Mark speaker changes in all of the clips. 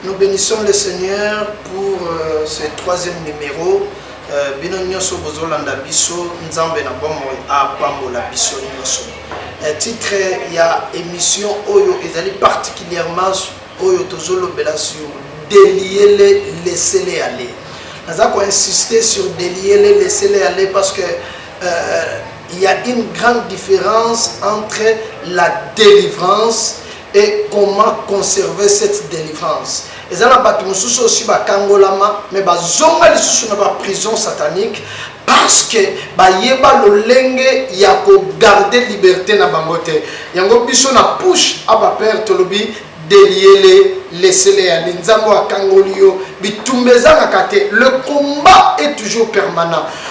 Speaker 1: Nous benissons le Seigneur pour euh, ce troisième numéro. Euh, bino nyoso bozolanda biso nzambe na bomoi apambola biso nyoso euh, titre ya émission oyo ezali particulièrement oyo tozolobela sur deliele lesele ale naza koinsiste sur deliele lesele ale parce que euh, il y a une grande différence entre la délivrance et comment conserver cette delivrance eza na bato mosusu oyo si bakangolama me bazonga lisusu na baprison satanique parce que bayeba lolenge ya kogarde liberté na bango te yango biso na pushe a bapere tolobi deliele lesele ya linzango akangoli yo bitumba ezangaka te le combat est toujours permanent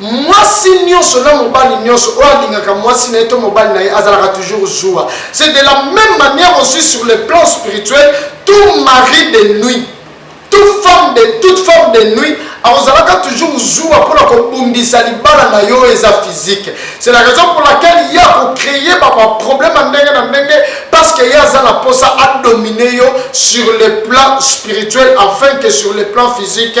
Speaker 1: Mwasi nionso na mobali nionso oyo alingaka mwasi na ye to mobali na ye azalaka toujours zuwa. C'est de la meme manière aussi sur le plan spirituel, tout mari de nuit, tout femme de, toute femme de nuit akozalaka toujours zuwa mpo na kobundisa libala na yo oyo eza physique. C'est la raison pour laquelle ye akocreye ba ba problème ya ndenge na ndenge parce que ye aza na mposa adomine yo sur le plan spirituel afin que sur le plan physique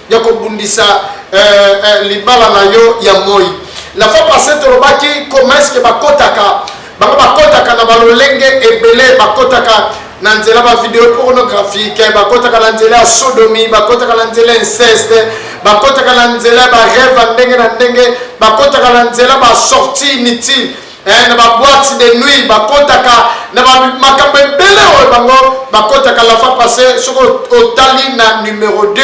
Speaker 1: ya kobundisa euh, euh, libala na yo ya moi la fois passé tolobaki comment est ce que bakotaka bango bakotaka na balolenge ebele bakotaka na nzela bavideo pornographique bakotaka na nzela ya sodomi bakotaka na nzela inceste bakotaka na nzela ya bareve ya ndenge na ndenge bakotaka na nzela basorti inutile eh, na ba boîte de nuit bakotaka na makambo ebele oyo bango bakotaka la fois passé soki otali na numero 2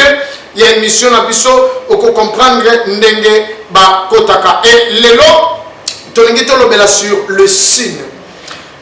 Speaker 1: ya émission na biso okocomprendre ndenge bakotaka e lelo tolingi tolobela sur le sine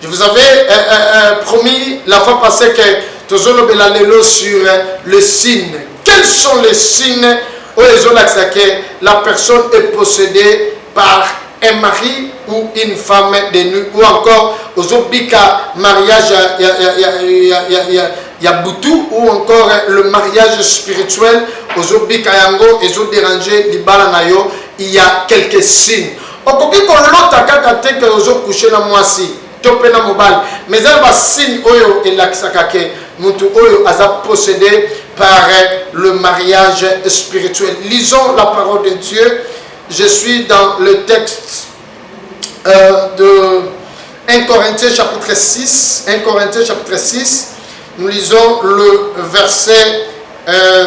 Speaker 1: je vous avais euh, euh, euh, promis la fois passé que tozolobela lelo sur le sine Quels sont les signes oyo ezolakisa que la personne est possedee par un mari ou une femme de nuit ou encore ozobika mariage ya, ya, ya, ya, ya, ya, ya, ya butu ou encore le mariage spirituel ozobika yango ezoderange libala na yo il y a quelques signes okoki kolota kaka te ke ozokouche na mwasi to pe na mobali mais eza na ba signe oyo elakisaka ke mutu oyo aza possede par le mariage spirituel lisons la parole de Dieu je suis dans le texte euh, de 1 Corinthiens chapitre 6 1 Corinthiens chapitre 6 nous lisons le verset euh,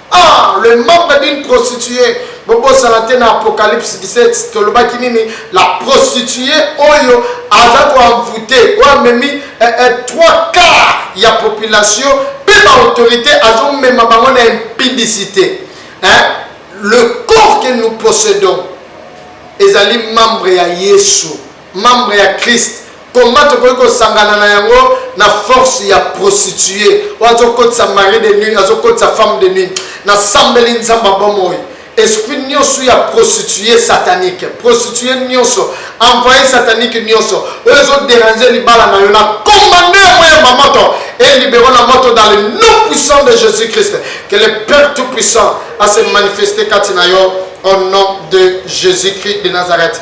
Speaker 1: Ah le membre d'une prostituee bobosana te na apocalypse 17 tolobaki nini la prostituee oyo aza ko envoute oyo amemi eh, eh, trois quart ya population mpe baautorité azomema bango na impudicité hein? le corps que nous possédons ezali membre ya yesu Membre ya Christ comment tokoki kosangana na yango na force ya prostitue oyo azokotisa mari de nuit azokotisa femme de nuit nasambeli nzambe ya bomoi esprit nyonso ya prostitue satanique prostitue nyonso envoye satanique nyonso oyo ezoderange libala na yo na commande ya moya ma moto et libero na moto dans le nom puissant de jésus christ que le père tout puissant a se manifeste kati na yo au nom de jésus christ de nazareth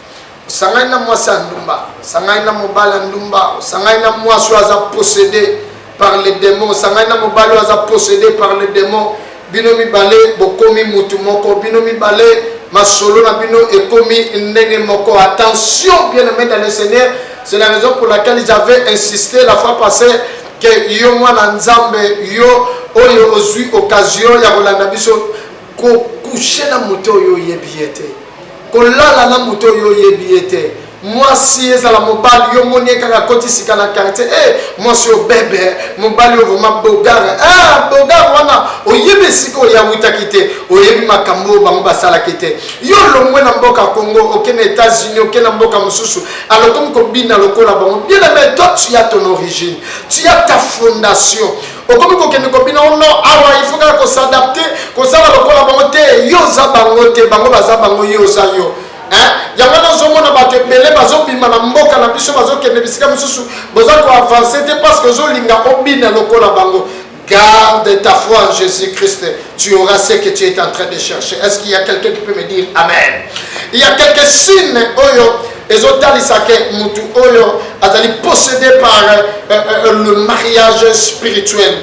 Speaker 1: Osangani na mwasi ya ndumba, osangani na mobali ya ndumba, osangani na mwasi oyo aza possédé par le démon, osangani na mobali oyo aza possédé par le démon, bino mibale bokomi mutu moko, bino mibale masolo na bino ekomi ndenge moko. Attention bien aimé dans le Seigneur, c'est la raison pour laquelle j'avais insisté la fois passée que yo mwana Nzambe yo oyo ozwi occasion ya kolanda biso Ko coucher na moto oyo oyebi ye te, kolala na moto oyo oyebi ye te. Mwasi ezala mobali yo moni ye kaka koti sika na quartier, eh mwasi oyo bebe, mobali oyo vraiment bogare. Ah bogare wana oyebi esika oye awutaki te, oyebi makambo oyo bango basalaki te. Yo olongwe na mboka Congo oke na Etats-Unis, oke na mboka mosusu, alors okomi kobina lokola bango. Bien aime, toi tu as ton origine, tu as ta fondation. Okomi kokende kobina o nord awa il faut kaka ko s'adapter kozala lokola bango te yo oza bango te bango baza bango yo oza yo hein yango wana ozomona bato ebele bazobima na mboka na biso bazokende bisika mosusu boza koavanse te parce que ozolinga obina lokola bango garde ta foi en jésus christ tu auras ce que tu es en train de chercher est ce qu'il y a quelqu'un qui peut me dire amen il y a quelques signes oyo Ezotalisa que mutu oyo azali possédé par euh, euh, euh, le mariage spirituel.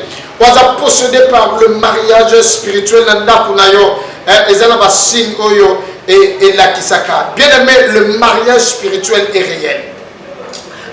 Speaker 1: Oza possédé par le mariage spirituel na ndaku na yo. Eh, eza na ba signe oyo et, et la kisaka. Bien aimé, le mariage spirituel est réel.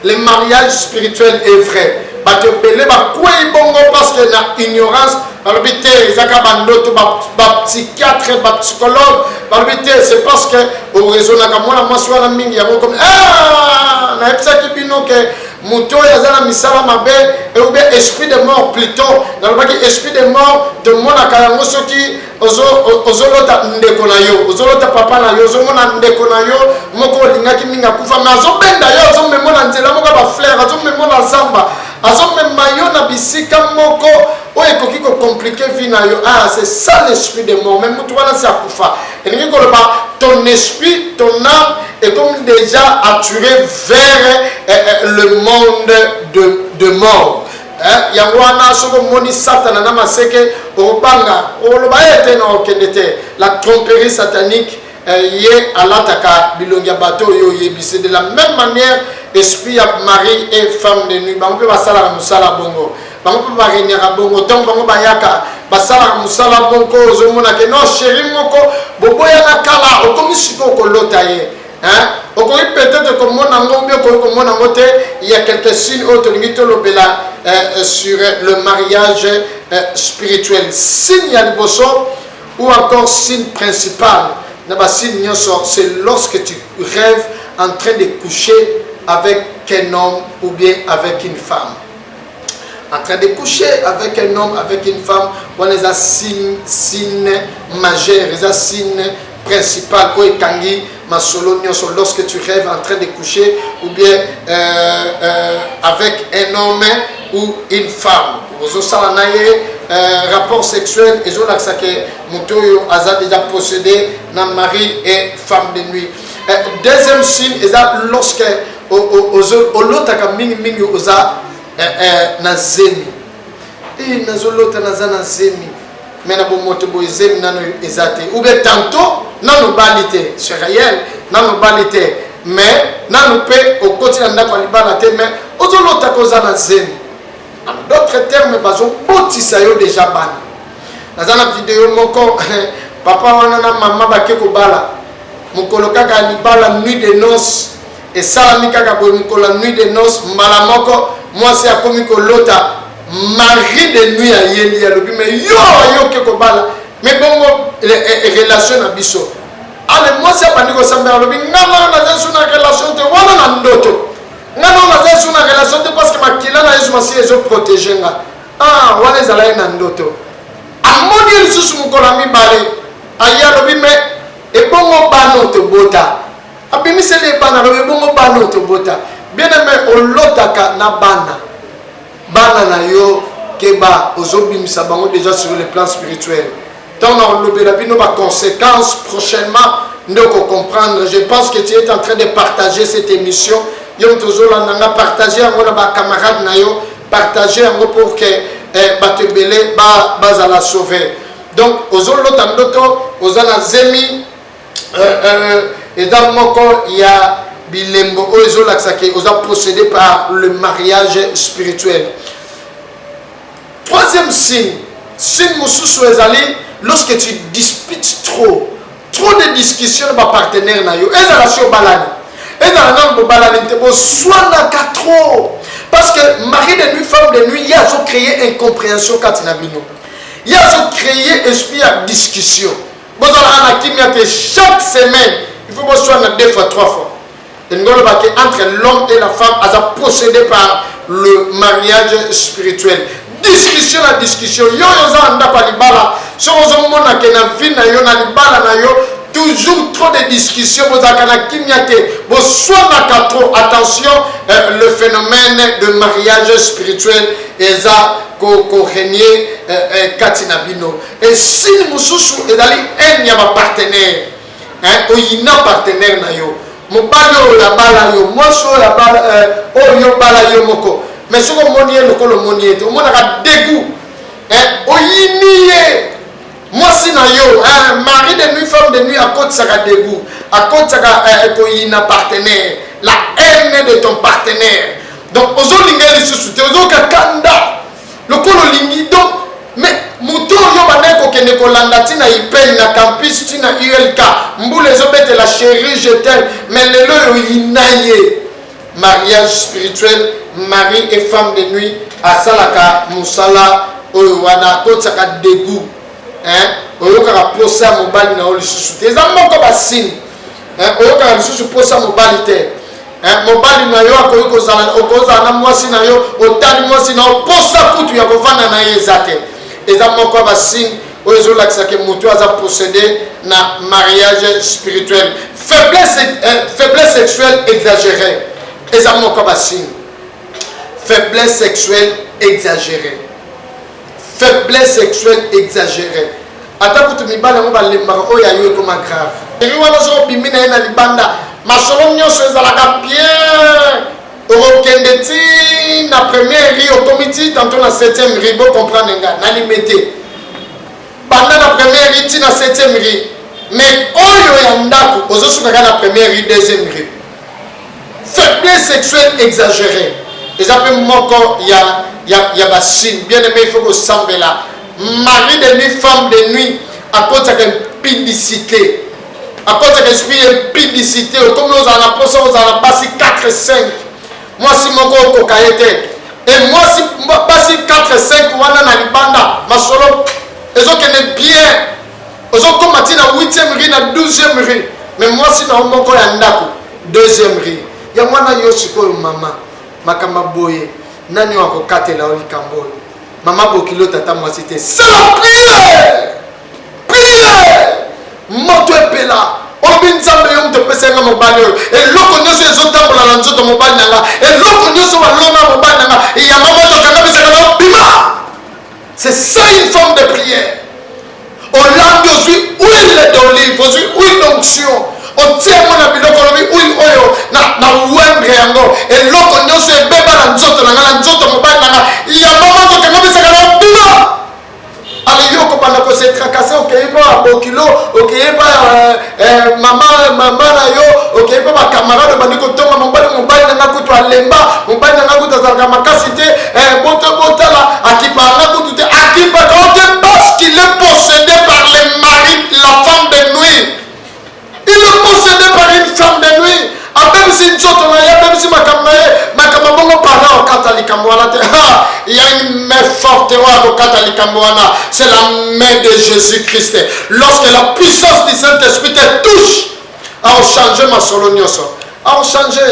Speaker 1: Le mariage spirituel est vrai. Bato ebele bakwei bongo parce que na ignorance balobi te ezaka bandoto bapsychiatre bapsychologue balobi te c'est parce que oraisonaka mwana mwasi wana mingi yango komi ah, nayebisaki bino ke moto oyo aza na misala mabe eube esprit de mort plutot nalobaki esprit de mort tomonaka yango soki ozo ozolota ndeko na yo ozolota papa na yo ozomona ndeko na yo moko olingaki mingi akufa me azobenda yo azomemo na nzela moko ya baflere azomemo na zamba azomema yo na bisika moko oyo ekoki kocomplike vie na yo ah c'est ça l'esprit de mort me motu wana si akufa elingi koloba ton esprit ton âme ekomi déjà attiré vers eh, eh, le monde de, de mort Eh, yango wana soki omoni satana na maseke obanga oloba ye te na okende te la tromperie satanique eh, ye alataka bilongi ya bato oyo oyebisi de la même manière esprit ya mari et femme de nuit bango mpe basalaka mosala bongo bango mpe baregnaka bongo ntango bango bayaka basalaka mosala moko ozomonake no sheri moko boboyana kala okomi sikoyo kolota ye Hein? okoki peut-être komona yango obi okoki komona yango te ya quelque signe oyo tolingi tolobela eh, eh, sur eh, le mariage spirituel signe ya liboso ou encore signe principal na basigne nyonso c'est lorsque tu rêves en train de coucher avec un homme ou bien avec une femme en train de coucher avec un homme avec une femme wana eza signe signe majeur eza signe principal oyo ekangi masolo nyonso lorsque tu rêves en train de coucher ou bien euh, euh, avec un homme ou une femme ozosala na ye euh, rapport sexuel ezolakisa ke moto oyo aza déjà possédé na mari et femme de nuit euh, deuxième signe eza lorsque olotaka mingi mingi oza eh, eh, na zemi e nazolota naza na zemi me na bomoto boye zemi nano eza te oubien tanto nano obali te c'est réel nano obali te me nano mpe okoti na ndako ya libala te me ozolota koza na zemi en d'autres termes bazobotisa yo déjà bana naza na video moko papa wana na mama bake kobala mokolo kaka ya libala nuit de noce Esalami kaka boye mokolo ya nuit de noce mbala moko mwasi akomi kolota mari de nuit ayeli alobi me yo ayoki kobala me bongo e, e, relation na biso ale mwasi abandi kosambela alobi nga nao naza su na relation te wana na ndoto nga nao naza su na relation te parce que makila na yesu masiya ezoprotege nga ah, wana ezala ye na ndoto amoni ye lisusu mokolo ya mibale aye alobi me ebongo bano tobota abimiseli ye bana alobi bongo bana oyo tobota bieneme olotaka na bana bana na yo keba ozobimisa bango déjà sur le plan spirituel ntango na kolobela bino baconséquence prochainement nde okocomprendre je pense que tu es en train de partager cette émission yo moto ozolanda nga partage yango na bacamarade na yo partage yango pour que eh, bato ebele bazala sauve donc ozolota ndoto oza na zemi euh, euh, eza moko ya bilembo oyo ezolakisa ke oza possédé par le mariage spirituel troisième signe signe mosusu ezali lorsque tu disputes trop trop de discussion na bapartenaire na yo ezala si obalani ezala nano bobalani te boswanaka trop parce que mari de nuit femme de nuit ye azocreye incomprehension kati na bino ye azocreye esprit ya discussion bozalaka na kimia te chaque semaine il faut boswana na deux fois trois fois elingi oloba ke entre l'homme et la femme aza possédé par le mariage spirituel discussion na discussion yo oyo oza na ndako ya libala soki ozomona ke na vie na yo na libala na yo toujours trop de discussion bozalaka na kimia te boswanaka trop attention euh, le phénomène de mariage spirituel eza korenie ko euh, euh, kati na bino Et signe mosusu ezali haine ya ba partenaire hein, oyina partenaire na yo mobali oyo abala yo mwasi oyo abala euh, oyo yo bala yo moko mais soki omoni ye lokola omoni ye te omonaka degout hein, oyini ye mwasi na yo hein, mari de nuit femme de nuit akotisaka degout akotisaka euh, koyina partenaire la haine de ton partenaire donc ozolinga ye lisusu te ozoyoka kanda Lokola olingi donc mais moto oyo obandaki kokende kolanda ti na ipel na campus ti na ulk mbula ezo betela cherie je t'aime mais lelo oyo oyina ye mariage spirituel mari et femme de nuit asalaka mosala oyo wana akotisaka degout oyokaka mposa ya mobali na yo lisusu te eza moko basini eh, oyokaka lisusu mposa mobali te eh, mobali na yo akoki kozala okozala na mwasi na yo otali mwasi na yo mposa kutu ya kovanda na ye eza te eza moko ya basigne oyo ezolakisaka motu aza possédé na mariage spirituel faiblesse, eh, faiblesse sexuelle exagérée eza moko ya basigne faiblesse sexuelle exagérée faiblesse sexuelle exageree ata kutu mibali yango balembaka oyo ya yo ekoma grave eri wana soki obimi na ye na libanda masolo nyonso ezalaka bien okokende ti na première ri okomi ti tanto na septième ri bocomprendre nga na limete banda na première ri ti na septième ri mais oyo ya ndako ozosukaka na première ri deuxième ri Faiblesse sexuelle exageree eza pe moko ya ya ya ba signe bien aime il faut kosambela mari de nuit femme de nuit akotisaka impudicité akotisaka esprit ya impudicité okomi ozala na mposa ozala na basi 4 5 mwasi moko okoka ye te e mwasi basi 4 5 wana na libanda masolo ezokende bien ozokoma ti na 8e rue na 12e rue me mwasi na yo moko ya ndako 2e rue ya mwana yo sikoyo mama makambo boye nani oyo akokatela yo likambo oyo mama bokilo tata mwasi te sala priere priere moto epela obi nzambe yo moto opesa yanga mobali oyo eloko nyonso ezotambola na nzoto mobali na nga eloko nyonso balonga mobali na nga yanga moto akangamisaka na bima C'est ça une forme de prière. olambi ozwi huile d'olive ozwi huile d'onction otie yango na biloko olobi huile oyo na wendre yango eloko nyonso ebeba na nzoto na ngai na nzoto mobali na ngai ya mama nzoto yango misaka na bima ale yo okobanda kosetrakase okei mpo ya bokilo okei mpo ya Eh, mama mama na yo okei mpe bakamarade obandi kotonga mobali mobali na nga kutu alemba mobali na nga kutu azalaka makasi te eh, boto botala akipa nga kutu te akipaka o te parce qu'il est possédé par le mari la femme de nuit il est possédé par une femme de nuit abebisi nzoto na ye abebisi makambo na ye makambo bongo pala okata likambo wana te ha
Speaker 2: ya me forte oyo akokata likambo wana c'est la main de jésus christ lorsque la puissance du saint esprit te touche akochange masolo nyonso akochange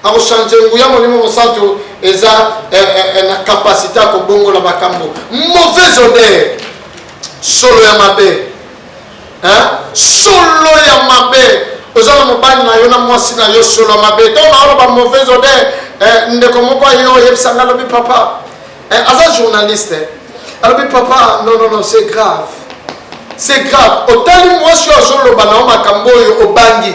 Speaker 2: akochange nguya molimo mosantu eza eh, eh, eh, na kapasité ya kobongola makambo mauvaise odeur solo ya mabe Hein? Solo ya mabe. Oza na mobali na yo na mwasi na yo solo ya mabe. Ntango naoloba mauvaise odeur, eh, ndeko moko aye oyebisa nga alobi papa. Eh, aza journaliste. Eh. Alobi papa, non, non, non, c'est grave. C'est grave. Otali mwasi oyo azoloba na yo makambo oyo obangi.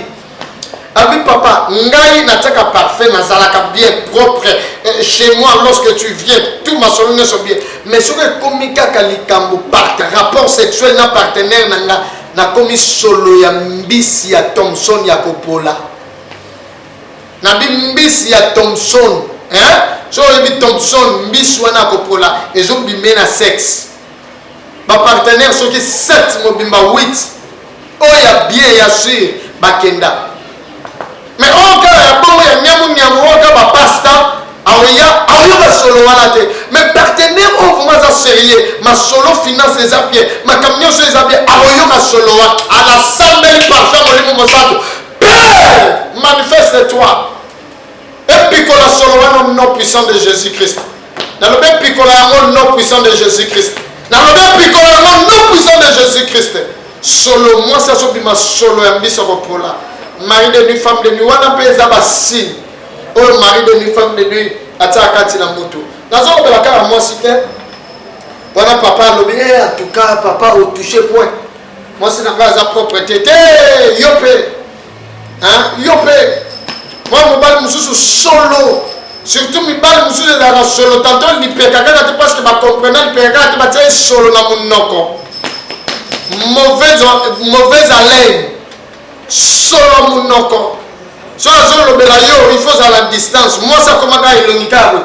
Speaker 2: Ami papa, ngai nataka parfum nazalaka bien propre euh, chez moi lorsque tu viens tout masolo nyonso bien mais soki ekomi kaka likambo part rapport sexuel na partenaire na nga nakomi solo ya mbisi ya thomson ya kopola na bimbisi ya thomson hein? so oyebi thomson mbisi wana ya kopola ezobime na sexe ba partenaire soki 7 mobimba 8 oyo ya bien ya sur bakenda mais oyo kaka ya bongo ya nyamunyamu oyo kaka bapasta aoya aoyo basolo wana te mais partenaire oyo vraimen aza sérieux masolo finance eza bien makambo nyonso eza bien aoyo masolo wa anasambeli parfum molimo mosantu pere manifeste toi Epikola solo wana au nom puissant de Jésus-Christ. Nalobi epikola yango au nom puissant de Jésus-Christ. Nalobi epikola yango au nom puissant de Jésus-Christ. Solo mwasi azobima solo ya mbisa kopola. Mari de nuit, femme de nuit wana mpe eza basigne oyo mari de nuit, femme de nuit atia kati na moto. Nazolobela kaka mwasi te. Wana papa alobi eh, en tout cas papa otouche point. Mwasi na ngai aza propre te te yo mpe hein yo pe mwa mobali mosusu solo surtout mibali mosusu ezalaka solo tanto lipeka kaka te parce que bacomprena lipeka kaka te batia esolo na monoko mauvaise haleine solo monoko soki azolobela yo il faut ozala distance mwasi akomaka elongi kaka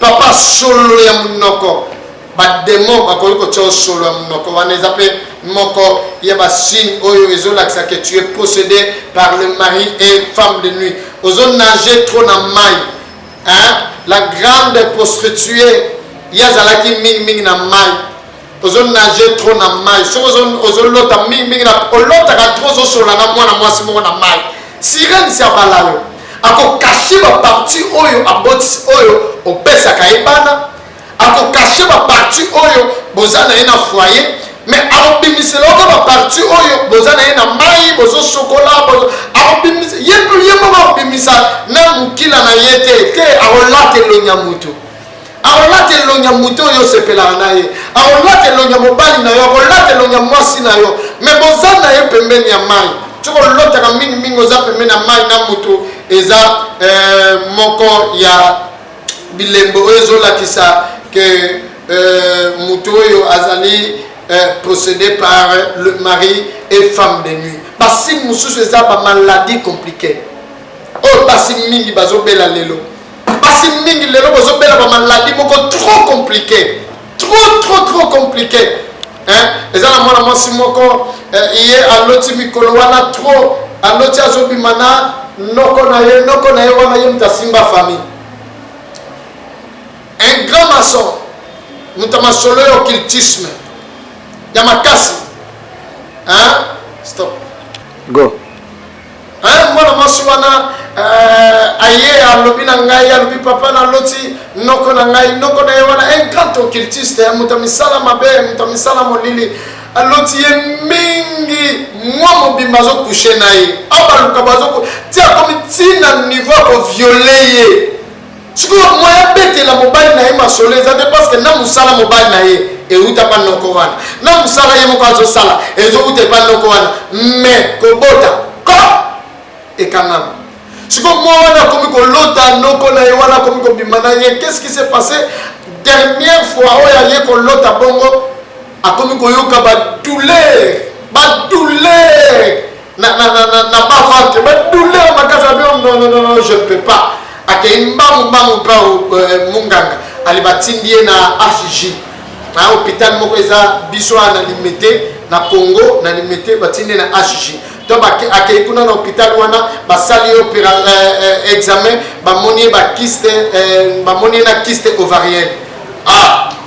Speaker 2: papa solo ya monoko bademo bakoki kotya yo solo ya monoko wana eza mpe moko ya basigne oyo ezolakisa ke tu es possédé par le mari et femme de nuit ozonage trop na mai hein? la grande prostituée ye azalaki mingimingi na mai ozonage trop na mai soki ozolota mingimingi olotaka trop ozosolola na mwana mwasi moko na mai sirene si abala yo akokashe baparti oyo abotisi oyo opesaka ye bana akokache baparti oyo boza na ye na foyer me akobimisela oka baparti oyo boza na ye na mai bozosokola ye moko akobimisa na mokila na ye te te akolata elongi ya moto akolata elongi ya moto oyo osepelaka na ye akolata elongi ya mobali na yo akolata elongi ya mwasi na yo me boza na ye pembeni ya mai soki olotaka mingimingi oza pembeni ya mai na moto eza eh, moko ya bilembo oyo ezolakisa ke euh, moto oyo azali euh, procédé par le mari et femme de nuit basine mosusu eza bamaladi compliqué oyo basi mingi bazobela lelo basi mingi lelo bozobela bamaladi moko trop compliqué trop trop trop compliqué hein? eza na mwana mwasi moko eh, ye aloti mikolo wana trop aloti azobima na noko na ye noko na ye wana ye moto asimba famille un grand maçon moto ya masolo ya occultisme ya makasi hein? stop go Hein, mwana mwasi wana euh, aye alobi na ngai alobi papa naloti noko na ngai noko na ye wana un grand occultiste eh, moto ya misala mabe moto ya misala molili aloti ye mingi mwa mobimba azokushe na ye abaluka bazoku ti akomi ti na niveau ya koviole ye Sikoyo moyen abetela mobali na ye masolo eza te parce que na musala mobali na ye euta pa noko wana na musala ye moko azosala ezouta epa noko wana mais kobota ko ekangama sikoyo mwa wana akomi kolota noko na ye wana akomi kobima na ye qu'est ce qui s'est passé dernière fois oyo aye kolota bongo akomi koyoka badouleur badouleur na, na, na, na, na ba ventre ba douleur makasi abi non non non non je ne peux pas akei mbangu mbangu mpa euh, munganga ali batindi ye na HJ na hôpital moko eza biso na limete na Congo na limete batindi na HJ to akei kuna na hôpital wana basali ye opera euh, euh, examen bamoni ye bakiste euh, bamoni ye na kiste ovarienne ah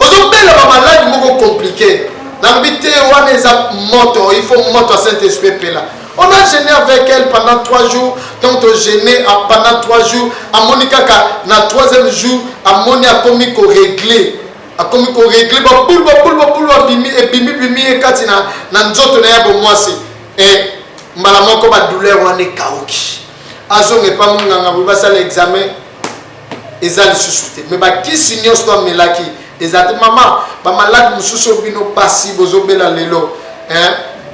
Speaker 2: Ozo bela ba malade moko complique. Nalobi te wana eza moto, il faut moto ya Saint Esprit epela. On a gene avec elle pendant trois jours, donc to gene pendant trois jours, amoni kaka na troisième jour, amoni akomi ko régler. akomi koregle babulu babulu babulu abimi ebimi bimi ye kati na, na nzoto na ya bomwasi e mbala moko badouleur wana ekauki azonga epa monganga boye basala examen eza lisusu te mais bakisi nyonso to amelaki eza te mama bamalade mosusu oyo bino basi bozobela lelo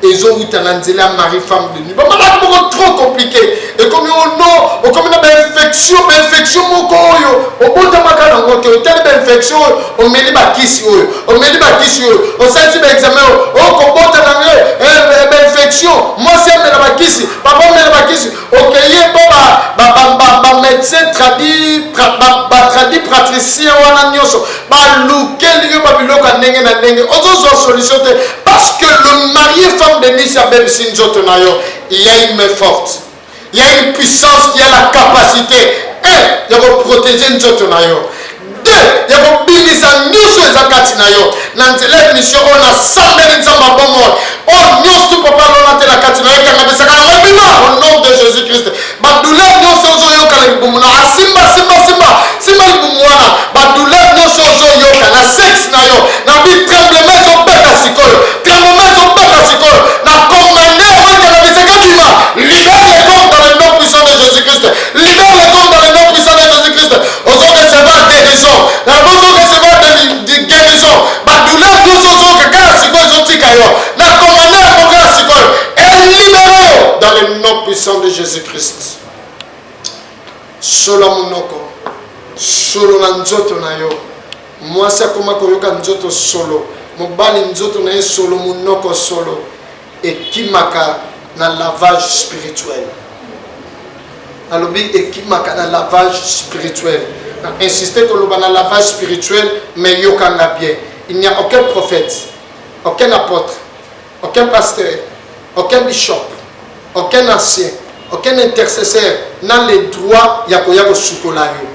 Speaker 2: ezowuta na nzela ya marie femme de nuit bamalade moko trop compliqué ekomi ono oh okomi na bainfection bainfection moko oyo obotamaka nango te otali bainfection oyo omeli bakisi oyo omeli bakisi oyo osalisi baexamen oyo okobota nango eh, eh, bainfection mwasi amela bakisi papa omela bakisi okeyi epo bamedecin batradi pratricien wana nyonso balukeli yo babiloko ya ndenge na ndenge ozozwa solution te parce que le marie femme de nisi abebisi nzoto na yo ya une main forte ya une puissance ya la capacité e ya koprotege nzoto na yo 2 ya kobimisa nyonso eza kati na yo na nzela ya misio oyo nasambeli nzambe abomoi oyo nyonso tu papa alona te na kati na yo ekangabisaka na mabima au nom de jésus christ badouleur nyonso ozoyoka na libumu na asimba simba simba simba libumu wana badouleur nyonso ozoyoka na sexe na yo na bi tremblement ezobeta sikoyo tremblement ezobeta sikoyo na commande yango ekangabisaka bima libere le corps dans le nom puissant de jésus christ libere le corps dans le nom puissant de jésus christ ozo recevoir guerison yango ozo recevoir guerison badouleur nyonso ozoyoka kaka sikoyo ezotika yo na commande yango kaka sikoyo elibere yo dans le nom puissant de jésus christ solo ya monoko solo na nzoto na yo mwasi akoma koyoka nzoto solo mobali nzoto na ye solo monoko solo ekimaka na lavage spirituel nalobi ekimaka na lavage spirituel na insiste koloba na lavage spirituel mais yokanga bien il n'y a aucun prophète aucun apôtre aucun pasteur aucun bishop aucun ancien Aucun intercesseur n'a le droit ya koya kosukola yo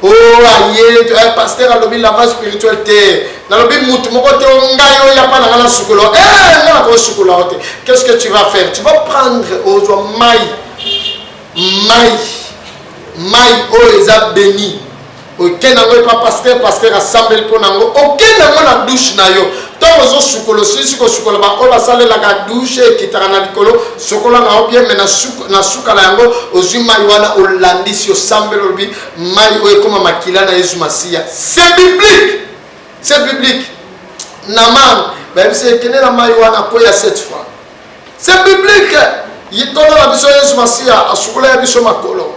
Speaker 2: o oh, aye eh, pasteur alobi lavage spirituel te nalobi mutu moko te ngai oyo yapa nanga nasukola e eh, nga nakosukola yo te qu'est ce que tu vas faire tu vas prendre ozwa mai mai mai oyo eza beni oke nango epa paster paster asambeli mpo nango oke nango na dushe na yo ntango ozosukola osilisi kosukola baoyo basalelaka dushe ekitaka na likolo sokola na obie me na suka na yango ozwi mai wana olandisi osambeli olobi mai oyo ekoma makila na yesu masiya se biblique se biblique na mane bayebisi ekende na mai wana mpo ya cette fois se biblique yitono na biso yesu masiya asukola ya biso makolo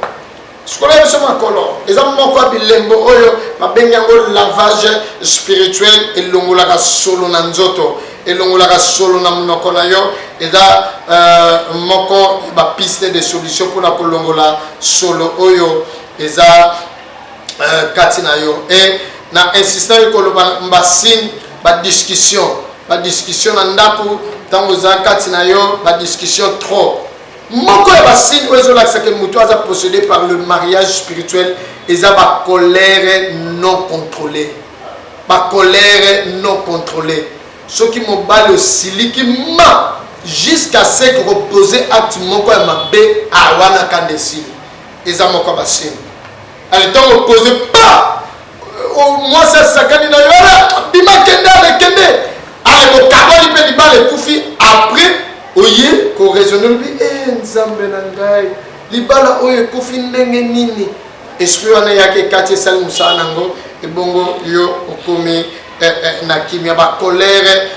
Speaker 2: Sikoyo na biso makolo eza moko ya bilembo oyo babengi yango lavage spirituel, elongolaka solo na nzoto, elongolaka solo na monoko na yo. Eza uh, moko ya bapiste de solution mpona kolongola solo oyo eza uh, kati na yo e na insistaki koloba mbasine badiscussion badiscussion na ndako ntango eza kati na yo badiscussion trop Moko ya ba signe oyo ezolakisa ke moto aza possede par le mariage spirituel eza ba colère non contrôlée ba colère non contrôlée soki mobali osiliki ma jusqu'à ce que kopose acte moko ya mabe awana kanda esili eza moko ya basini ale ntango opose pa mwasi asakani na yo bima kende ale kende ale bokaboli mpe libala ekufi après oye koraisonne lobi e eh, nzambe na ngai libala oyo ekufi ndenge nini esprit wana eyaki ekati esali mosala na yango ebongo yo okomi eh, eh, na kimia bakolere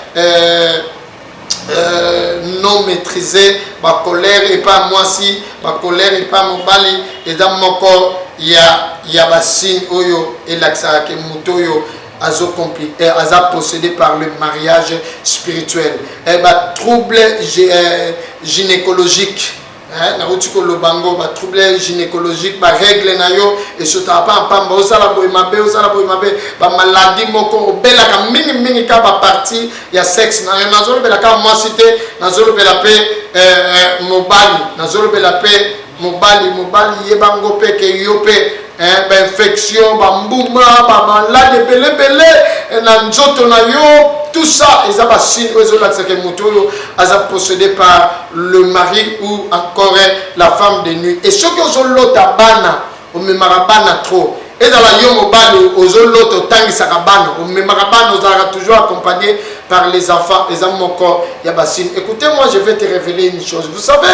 Speaker 2: Euh, non maîtrise bacolere epa mwasi bacolere epa mobali eza moko ya, ya basigne oyo elakisaka ke moto oyo euh, aza possédé par le mariage spirituel eh, batrouble euh, gynécologique Eh, nauti koloba ngo ba trouble gynécologique ba règle na yo esotaka mpa mpamba ozala boye mabe ozala boye mabe bamaladi moko obelaka mingimingi kaka baparti ya sexe na yo nazolobela kaka mwasi te nazolobela mpe eh, eh, mobali nazolobela mpe mobali mobali yeba ngo mpe ke yo mpe eh, ba infection ba mbuma ba malade ebele ebele eh, na nzoto na yo tout ça eza ba signe oyo ezolakisa ke moto oyo aza possédé par le mari ou encore la femme de nuit et soki ozolota bana omemaka bana trop ezala yo mobali ozolota otangisaka bana omemaka bana ozalaka toujours accompagné par les enfants eza moko ya ba signe écoutez moi je vais te révéler une chose vous savez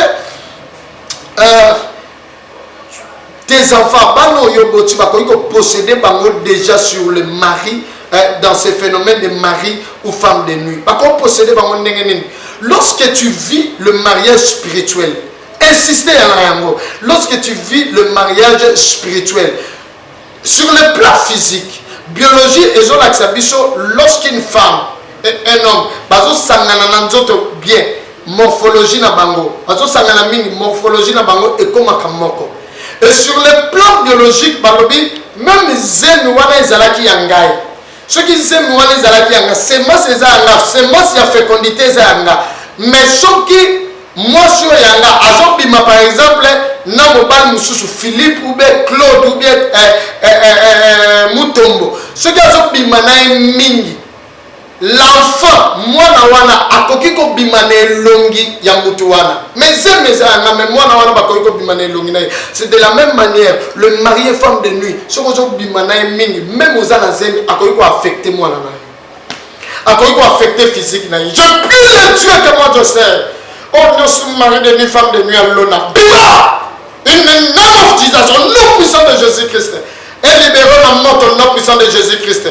Speaker 2: euh, tes enfants bana oyo oboti bakoki kopossede bango déjà sur le mari euh, dans ce phénomène de mari ou femme de nuit bakoki possede bango ndenge nini lorsque tu vis le mariage spirituel insiste ya na yango lorsque tu vis le mariage spirituel Sur le plan physique, biologie ezo lakisa biso lorsque une femme et un homme bazo sangana na nzoto bien morphologie na bango bazo sangana mingi morphologie na bango ekomaka moko et sur le plan biologique balobi meme zemi wana ezalaki ya ngai soki zemi wana ezalaki yanga semence eza yanga semence ya fecondité eza yanga mais soki mwasi oyo yanga azobima par exemple na mobali mosusu philippe ou bien claude ou bien eh, eh, eh, eh, eh mutombo soki azobima na ye mingi l'enfant mwana wana akoki kobima na elongi ya motu wana Mais zemi ezalanga mais mwana wana bakoki kobima na elongi na ye c'est de la même manière le marie femme de nuit soki ozobima na ye mingi meme oza na zemi akoki koaffecte mwana na ye akoki koaffecte physique na ye je prie le dieu que moi je sers oyo nyonso marie de nuit femme de nuit alona bima in the name of jesus au nom puissant de jésus christ elibere na moto nom puissant de jésus christ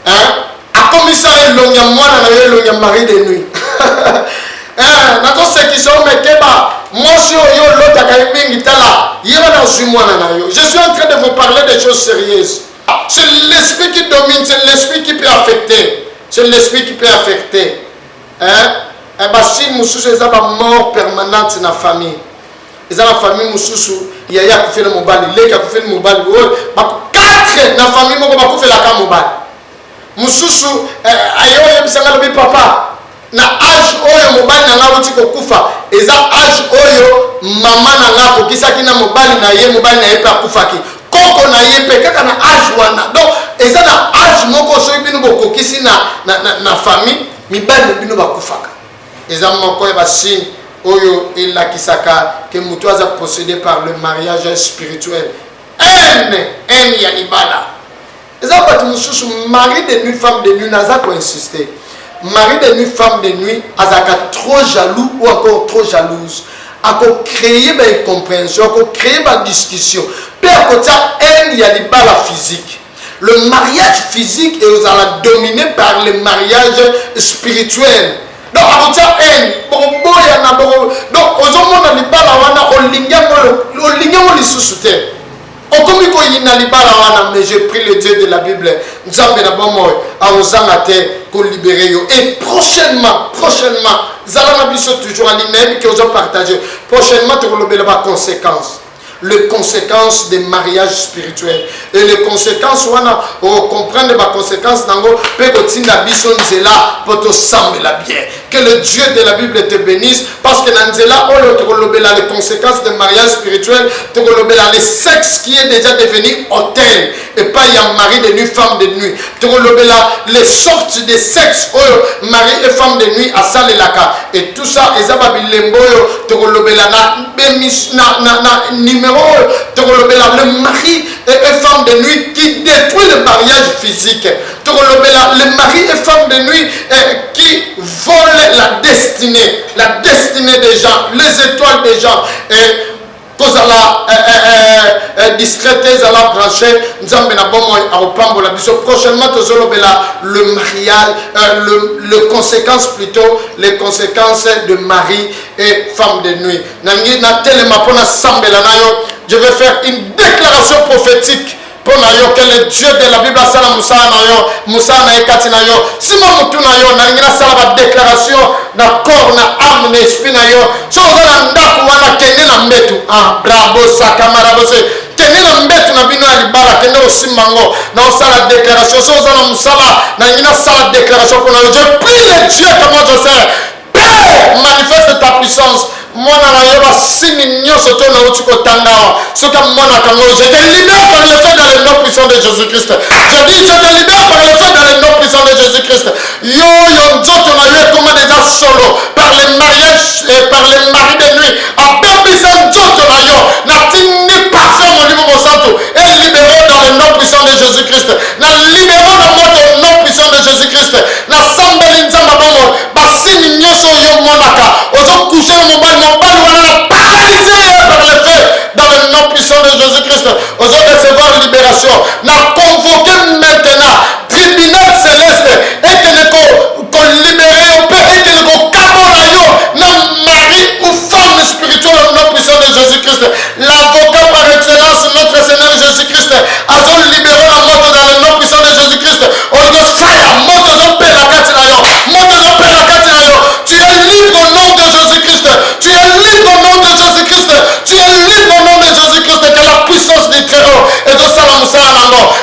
Speaker 2: hein akomisa elongi ya mwana na yo elongi ya mari de nuit hein nazosekisa yo mekeba mwasi oyo olotaka ye mingi tala ye wana azwi mwana na yo je suis en train de vous parler des choses sérieuses c'est l'esprit qui domine c'est l'esprit qui peut affecter c'est l'esprit qui peut affecter hein eh, basine mosusu eza bamort permanente na famille eza na famille mosusu yaya akufeli mobali leki akufeli mobali oyo 4 na famille moko bakufelaka mobali mosusu eh, aye oyebisa ngai lobi papa na age oyo mobali na ngai auti kokufa eza age oyo mama na ngai akokisaki na mobali na ye mobali na ye mpe akufaki koko na ye mpe kaka na age wana donc eza na age moko soki bino bokokisi na, na, na, na famille mibali na bino bakufaka Eza moko ya ba signe oyo elakisaka que mutu aza possede par le mariage spirituel. Haine, haine ya libala. Eza batu mususu mari de nuit femme de nuit naza ko insister. Mari de nuit femme de nuit azalaka trop jaloux ou encore trop jalouse. Ako créer ba incomprehension, ako créer ba discussion pe akotia haine ya libala physique. Le mariage physique ekozala domine par le mariage spirituel donc akotia haine bokoboyana boko donc ozomona libala wana olingi yango olingi yango lisusu te okomi koyina libala wana mais je prie le dieu de la bible nzambe na bomoi akozanga te kolibere yo et prochainement prochainement zala na biso toujours alingi nayebi ke ozopartage prochainement tokolobela baconséquence les conséquences des mariages spirituels et les conséquences wana ocomprendre baconséquence na yango mpe kotinda biso nzela mpo tosambela bien que le dieu de la bible te bénisse parce que na nzela oyo tokolobela les conséquences de mariage spirituel tokolobela le sexe qui est déjà devenu hôtel epai ya mari de nuit femme de nuit tokolobela les sortes de sexe oyo mari et femme de nuit asalelaka et tout ça eza babilembo oyo tokolobela na, na, na, na numero oyo tokolobela le mari et, et femme de nuit qui détruit le mariage physique tokolobela le mari et femme de nuit eh, qui vole la destinée la destinée des gens les étoiles des gens eh, kozala eh, eh, eh, eh, discrète ezala branche nzambe na bomoi akopambola biso prochainement tozolobela le mariage euh, le, le conséquence plutôt les conséquences de mari et femme de nuit nangi natelema mpo nasambela na yo je vais faire une déclaration prophétique mpo na yo que le dieu de la bible asala mosala na yo mosala na ye kati na yo nsima motu na yo nalingi nasala badeklaration na corps na ame na esprit na yo so oza na ndako wana kende na mbetu ah, bravo sakamarabose kende na mbetu na bino ya libala kende kosimba yango na osala deklaration so oza na mosala nalingi nasala deklaration mpo na yo je prie le dieu kama joseph Père, manifeste ta puissance. mwana na yo basini nyonso to nauti kotanga awa soki amonaka ngo je te libère par le feu dans le nom puissant de jésus christ je dis je te libère par le feu dans le nom puissant de jésus christ yo yo nzoto na yo ekoma deja solo par le mariage et par le mari de nuit abebisa nzoto na yo natindi parfum molimo mosantu elibere dans le nom puissant de jésus christ Na libero na moto au nom puissant de Jesus Christ. Na sambeli nzambe ya bomoi. Ba signe nyoso oyo yo monaka. Ozo coucher na mobali, mobali wana na paralyser ye par le feu. Dans le nom puissant de Jesus Christ. Ozo recevoir liberation. Na convoquer maintenant tribunal celeste et que ne ko kolibere yo mpe ekende kokabola yo na mari ou femme spirituelle au nom puissant de Jésus-Christ. L'avocat par excellence, notre Seigneur Jésus-Christ, azo libere na moto dans le nom puissant de Jésus-Christ. Olingo fire, moto ezo pela kati na yo, moto ezo pela kati na yo. Tu es libre au nom de Jésus-Christ. Tu es libre au nom de Jésus-Christ. Tu es libre au nom de Jésus-Christ. Que la puissance du Très-Haut ezosala mosala na yango.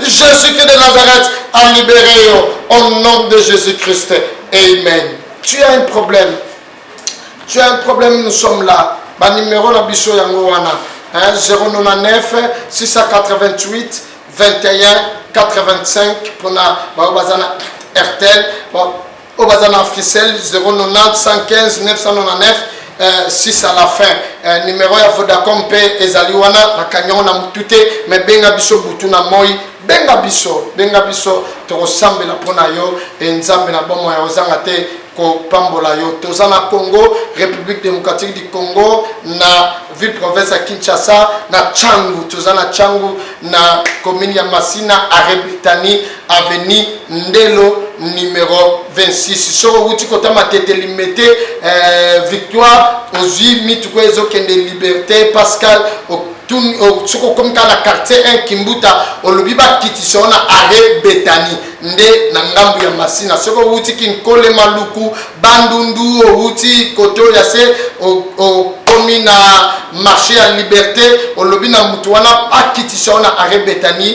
Speaker 2: Jesus Christ de Nazareth a libéré yo au nom de Jesus Christ. Amen. Tu as un problème. Tu as un problème, nous sommes là. Ba numéro na biso yango wana. Hein, 099 688 21 85 pona ba bazana RTL. Bon, oyo baza na africel 090 à la fin euh, numero ya vodacom mpe ezali wana nakangi yango na motu te me benga biso butu na moi benga biso benga biso tokosambela mpo na yo e nzambe na bomoi ya ozanga te kopambola yo toza na congo république démocratique du congo na ville province ya kinshasa na changu toza na changu na commune ya masina arebitani avenue Ndelo numero 26 soki owuti kota matete limete eh, victoire ozwi mituku oyo ezokende liberté pascal soki okomi kaka na quartier 1 kimbuta olobi bakitisa yo na arret betani nde na ngambo ya masina soki owuti kinkole maluku bandundu owuti kote oyo ya se okomi na marché ya liberté olobi na motu wana akitisa yo na arret betani